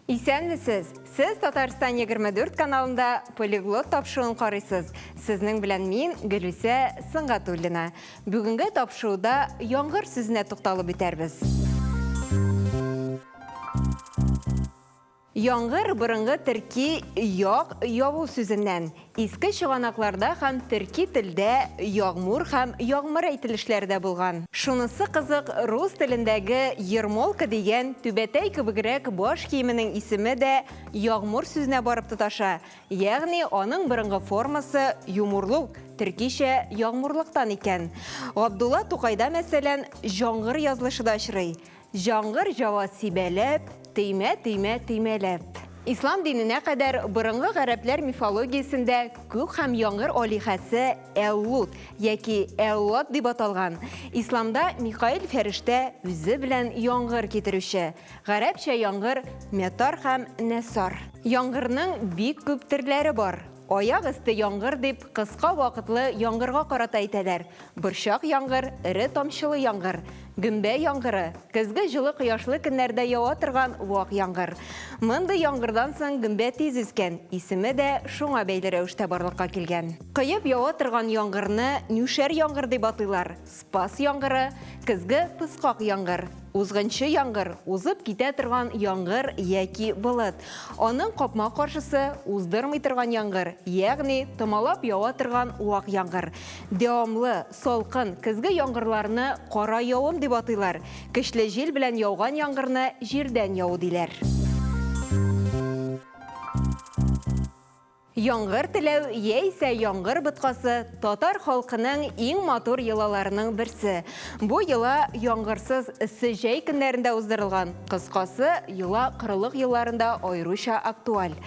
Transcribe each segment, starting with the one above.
Исәнмесез! Сез Татарстан 24 каналында полиглот тапшыуын карыйсыз. Сезнең белән мин Гөлүсә Сыңгатуллина. Бүгенге тапшыруда яңгыр сүзенә тукталып үтәрбез. Яңгыр борынгы төрки ягъ яву сүзеннән, иске чыганакларда һәм төрки телдә ягъмур һәм ягъмыр әйтелешләре дә булган. Шунысы кызык, рус телендәге ермолка дигән түбәтәй кебегрәк баш киеменең исеме дә ягъмур сүзенә барып тоташа, ягъни аның борынгы формасы юмурлук, төркичә ягъмурлыктан икән. Габдулла Тукайда, мәсәлән, җаңгыр язлышы да очрый. Җаңгыр җава сибәләп, Теймә, теймә, теймәләп. Ислам диненә кадәр борынгы гарәпләр мифологиясендә күк һәм яңгыр алиһәсе Әл-Лут яки Әл-Лат дип аталган. Исламда Микаил фәрештә, үзе белән яңгыр китерүче. Гарәпчә яңгыр, Метар һәм Нәсар. Яңгырның бик күп төрләре бар. Аяк өсте яңгыр дип кыска вакытлы яңгырга карата әйтәләр. Борчак яңгыр, эре тамчылы яңгыр, гөмбә яңгыры, көзге җылы кояшлы көннәрдә ява торган вак яңгыр. Мондый яңгырдан соң гөмбә тиз үскән, исеме дә шуңа бәйле рәвештә барлыкка килгән. Коеп ява торган яңгырны нюшәр яңгыр дип атыйлар. Спас яңгыры, көзге пыскак яңгыр, узгынчы яңгыр, узып китә торган яңгыр яки болыт. Аның капма каршысы уздырмый торган яңгыр, ягъни томалап ява торган вак яңгыр. Дәвамлы, салкын, көзге яңгырларны кара явым дип атыйлар. Көчле җил белән яуган яңгырны җирдән яву диләр. Яңгыр теләү яисә яңгыр боткасы татар халкының иң матур йолаларының берсе. Бу йола яңгырсыз эссе җәй көннәрендә уздырылган, кыскасы, йола корылык елларында аеруча актуаль.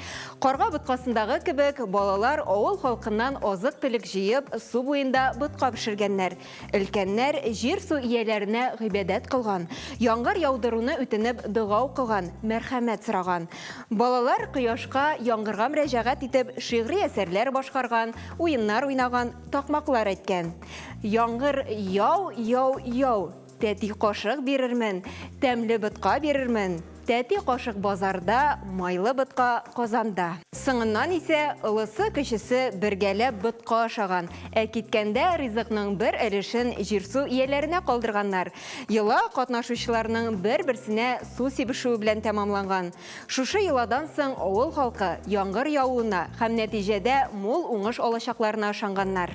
Карга боткасындагы кебек, балалар авыл халкыннан азык-төлек җыеп, су буенда ботка пешергәннәр. Өлкәннәр җир-су ияләренә гыйбадәт кылган, яңгыр яудыруны үтенеп дога укыган, мәрхәмәт сораган. Балалар кояшка, яңгырга мөрәҗәгать итеп шигъри әсәрләр башкарган, уеннар уйнаган, такмаклар әйткән. Яңгыр, яу, яу, яу! Тәти кашык бирермен, тәмле ботка бирермен. Тәти кашык базарда, майлы ботка Казанда. Соңыннан исә олысы-кечесе бергәләп ботка ашаган, ә киткәндә ризыкның бер өлешен җир-су ияләренә калдырганнар. Йола катнашучыларның бер-берсенә су сибешүе белән тәмамланган. Шушы йоладан соң авыл халкы яңгыр явуына һәм нәтиҗәдә мул уңыш алачакларына ышанганнар.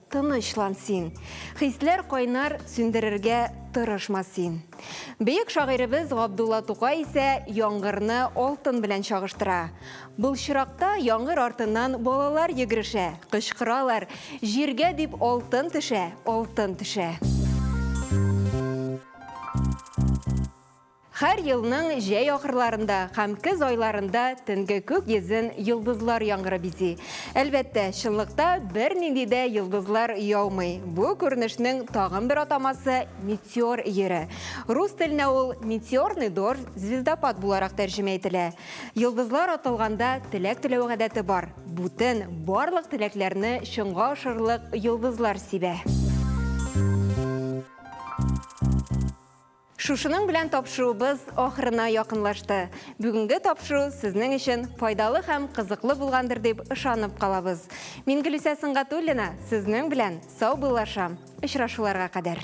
Тынычлан син. Хисләр кайнар, сүндерергә тырышма син. Бөек шагыйребез Габдулла Тукай исә яңгырны алтын белән чагыштыра. Былчыракта яңгыр артыннан балалар йөгерешә, кычкыралар, җиргә дип алтын төшә, алтын төшә. Һәр елның җәй ахырларында һәм көз айларында төнге күк йөзен йолдызлар яңгыры бизи. Әлбәттә, чынлыкта бернинди дә йолдызлар яумый. Бу күренешнең тагын бер атамасы, метеор йөре. Рус теленә ул метеорный дождь, звездопад буларак тәрҗемә ителә. Йолдызлар атылганда теләк теләү гадәте бар. Бүтән барлык теләкләрне чынга ашырырлык йолдызлар сибә. Шушының белән тапшыруыбыз ахырына якынлашты. Бүгенге тапшыру сезнең өчен файдалы һәм кызыклы булгандыр дип ышанып калабыз. Мин Гөлүсә Сөнгатуллина, сезнең белән саубыллашам. Очрашуларга кадәр.